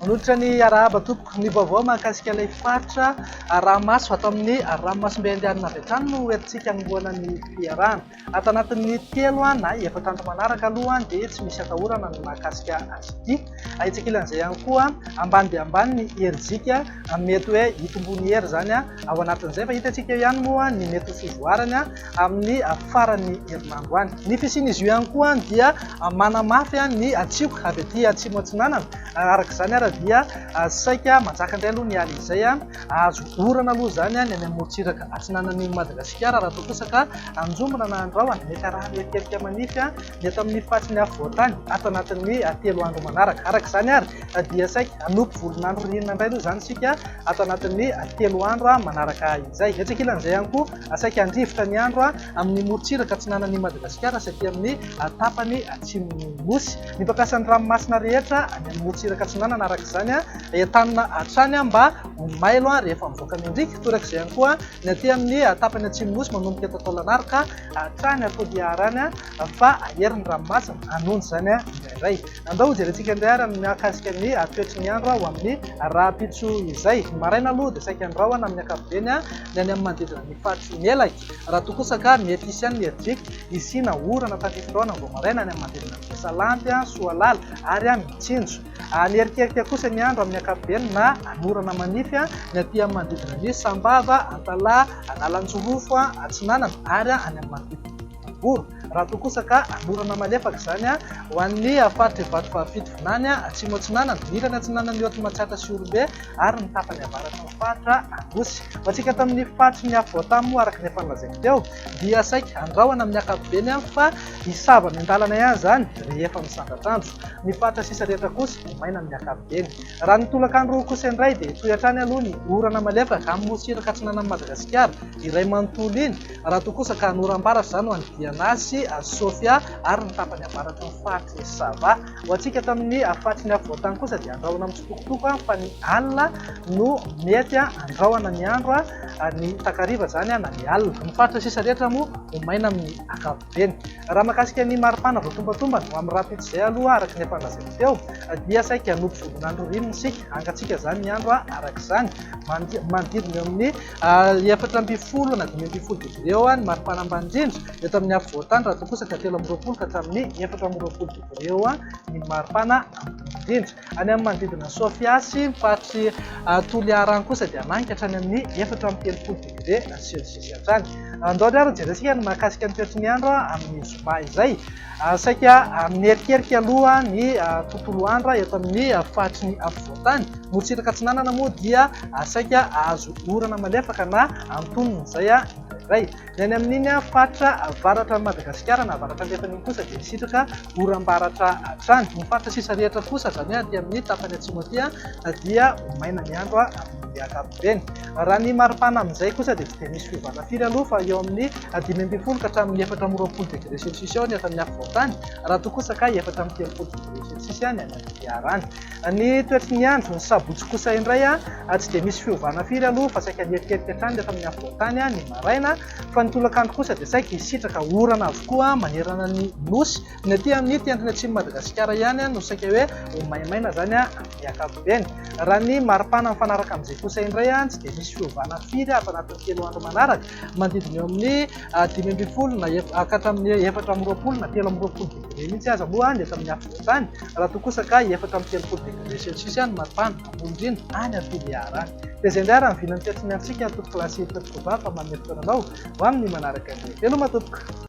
Manohitra ny arahaba tompoko. Ny vaovao mahakasika ilay faritra Arahamaso ato amin'ny Arahamasom-be Andianina avy hatrany no hoentintsika hanombohana ny fiarahana. Ato anatin'ny telo na efatra andro manaraka aloha dia tsy misy atahorana ny mahakasika azy ity. Ahitsy ankilan'izay ihany koa, ambany dia ambany ny herijika, mety hoe hitomboa ny hery izany ao anatin'izay fa hitantsika eo ihany moa ny mety ho fivoarany amin'ny faran'ny herinandro any. Ny fisian'izy io ihany koa dia manamafy ny tsioky avy aty atsimo atsinanana, araka izany ary dia saika manjaka indray aloha ny alina izay Azo orana aloha izany any amin'ny morontsiraka atsinanan'i Madagasikara raha toa kosa ka anjombona na andrahona, mety arahana erikerika manify ny eto amin'ny faritry ny afovoantany ato anatin'ny telo andro manaraka. Araka izany ary dia saika hanompo volon'andro ririnina indray aloha izany isika ato anatin'ny telo andro manaraka izay. Etsy ankilan'izay ihany koa saika handrivotra ny andro amin'ny morontsiraka atsinanan'i Madagasikara sy aty amin'ny tapany atsimon'ny Nosy. Ny mpampiasan'ny ranomasina rehetra any amin'ny morontsiraka atsinanana araka izany entanina hatrany mba ho mailo rehefa mivoaka ny andriaka. Toraka izay ihany koa ny aty amin'ny tapany atsimon'ny nosy manomboka eto Taolagnaro ka hatrany Toliara any fa ahery ny ranomasina hanonja izany indraindray. Andao hojerentsika indray ary ny mahakasika ny toetry ny andro ho amin'ny rahampitso izay. Ny maraina aloha dia saika ny rahona amin'ny ankapobeny ny any amin'ny manodidina ny faritry Melaky raha toa kosa ka mety hisy ihany ny herijika Hisiana orana tandrify taona vao maraina any amin'ny manodidina an'i Besalampy, Soalala ary Mitsinjo. Hanerikerika kosa ny andro amin'ny ankapobeny na hanorana manify ny aty amin'ny manodidina ny Sambava, Antalaha, Analanjirofo Atsinanana ary any amin'ny manodidina ny Vohiboro, raha toa kosa ka hanorana malefaka izany ho an'ny faritr'i Vatovavy Fitovinany, Atsimo Atsinanana, ny ilany atsinanan'i Haute Matsiatra sy Ihorombe ary ny tapany avaratra. Faritra Anosy. Ho antsika eto amin'ny faritry ny Afovoantany moa araka ny efa nolazaiko teo dia saika andrahona amin'ny ankapobeny fa hisava amin'ny an-dalana ihany izany rehefa misandratra andro. Ny faritra sisa rehetra kosa ho maina amin'ny ankapobeny. Raha ny tolakandro kosa indray dia hitohy hatrany aloha ny orana malefaka amin'ny nosy iraka atsinanan'i Madagasikara iray manontolo iny raha toa kosa ka hanora am-baratra izany ho any Diana sy Sofia ary ny tapany avaratry ny faritry ny Sava Ho antsika tamin'ny faritry ny afovoan-tany kosa dia andrahona mitsitokotoko fa ny alina no mety andrahona ny andro, ny takariva izany na ny alina. Ny faritra sisa rehetra moa ho maina amin'ny ankapobeny. Raha mahakasika ny maripana voatombatombana ho amin'ny rahampitso izay aloha araka ny efa lazaiko teo dia saika hanopy volon'andro rino isika, hangatsiaka izany ny andro araka izany. Manodidina eo amin'ny efatra ambin'ny folo na dimy ambin'ny folo degre eo ny maripana ambany indrindra eto amin'ny afovoan-tany raha toa kosa ka telo amby roapolo ka hatramin'ny efatra amby roapolo degre. Ireo ny maripana indrindra. Any amin'ny manodidina an'i Sofia sy ny faritry Toliara any kosa dia maninka hatrany amin'ny efatra amby telopolo degre celsius hatrany. Andao ry ary jerentsika ny mahakasika ny toetry ny andro amin'ny zoma izay. Saika mierikerika aloha ny tontolo andro eto amin'ny faritry ny afovoantany. Motsiraka atsinanana moa dia saika hahazo orana malefaka na antonony izay indraindray. Ny any amin'iny faritra avaratran'i Madagasikara na avaratra andrefana iny kosa dia misitraka oram-baratra hatrany. Ny faritra sisa rehetra kosa, izany hoe aty amin'ny tapany atsimo aty, dia ho maina ny andro amin'ny ankapobeny. Raha ny maripana amin'izay kosa dia tsy dia misy fiovana firy aloha fa eo amin'ny dimy ambin'ny folo ka hatramin'ny efatra amby roapolo degre celsius eo ny eto amin'ny afovoan-tany, raha toa kosa ka efatra amby telopolo degre celsius ny any amin'ny farany. Ny toetry ny andro ny sabotsy kosa indray a, tsy dia misy fiovana firy aloha fa saika mierikerika hatrany rehefa amin'ny afovoan-tany ny maraina, fa ny tolakandro kosa dia saika hisitraka orana avokoa manerana ny Nosy. Ny aty amin'ity andron'ny atsimon'i Madagasikara ihany no saika hoe ho maimaina izany amin'ny ankapobeny. Raha ny maripana mifanaraka amin'izay kosa indray a, tsy dia misy fiovana firy ato anatin'ny telo andro manaraka manodidina eo amin'ny dimy ambin'ny folo na ka hatramin'ny efatra amby roapolo na telo amby roapolo degré mihitsy aza moa ny eto amin'ny afovoan-tany, raha toa kosa ka efatra amby telopolo degré celsius ihany ny maripana, ambony indrindra, any Ampiliahara any. Dia izay indray ary ny vinan'ny fiantsomiantsika atoky Classe Hira Fefy Koba fa manome fotoana anao ho amin'ny manaraka indray. Veloma tompoko!